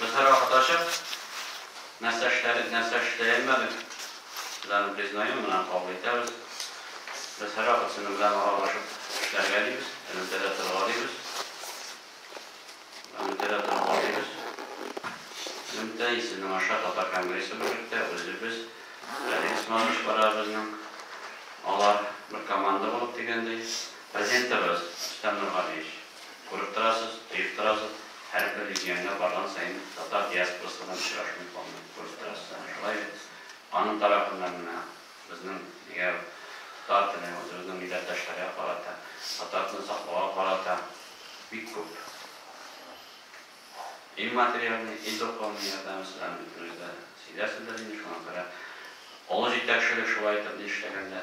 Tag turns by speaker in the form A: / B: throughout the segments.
A: Кызларга каташып, нәрсә эшләдек, нәрсә эшләелмәдек, без аны признаем, моннан кабул итәбез. Без һәрвакыт сезнең белән аралашып эшләргә дибез, элемтәдә торырга дибез. Элемтәдә торырга дибез. Элемтә исемен аша Татар конгрессы берлектә үзебез, Галим Исмалович бара безнең, алар бер команда булып дигәндәй, президентыбыз Рөстәм Нургалиевич. Күреп торасыз, тоеп торасыз, һәрбер регионга барган саен татар диаспорасы белән очрашуым калмый. Күреп торасыз, әнә шулай бит. Аның тарафыннан менә безнең егәү татар теле үзебезнең милләттәшләргә карата, татар телен саклауга карата бик күп и материальный, и духовный ярдәме сезләрнең бөтенегез дә сизәсездер инде, шуңа күрә олы җитәкчелек шулай итеп ни эшләгәндә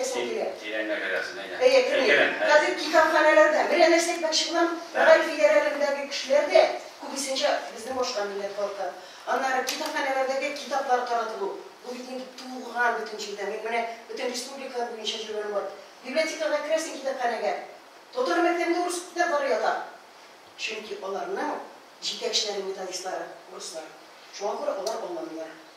B: Әйдә, шул тирә. Тирәнгә керәсең, әйдә. Әйе, кермим. Хәзер китапханәләрдә, менә нәрсә әйтмәкче булам, мәгариф идарәләрендәге кешеләр дә, күбесенчә, безнең башка милләт халкы. Аннары китапханәләрдәге китаплар таратылу, бу бит инде туган бөтен җирдә. Мин менә бөтен республика буенча йөргәнем бар. Библиотекага керәсең, китапханәгә, татар мәктәбендә урыс китаплары ята. Чөнки аларның җитәкчеләре, методистлары, урыслар. Шуңа күрә алар аңламыйлар.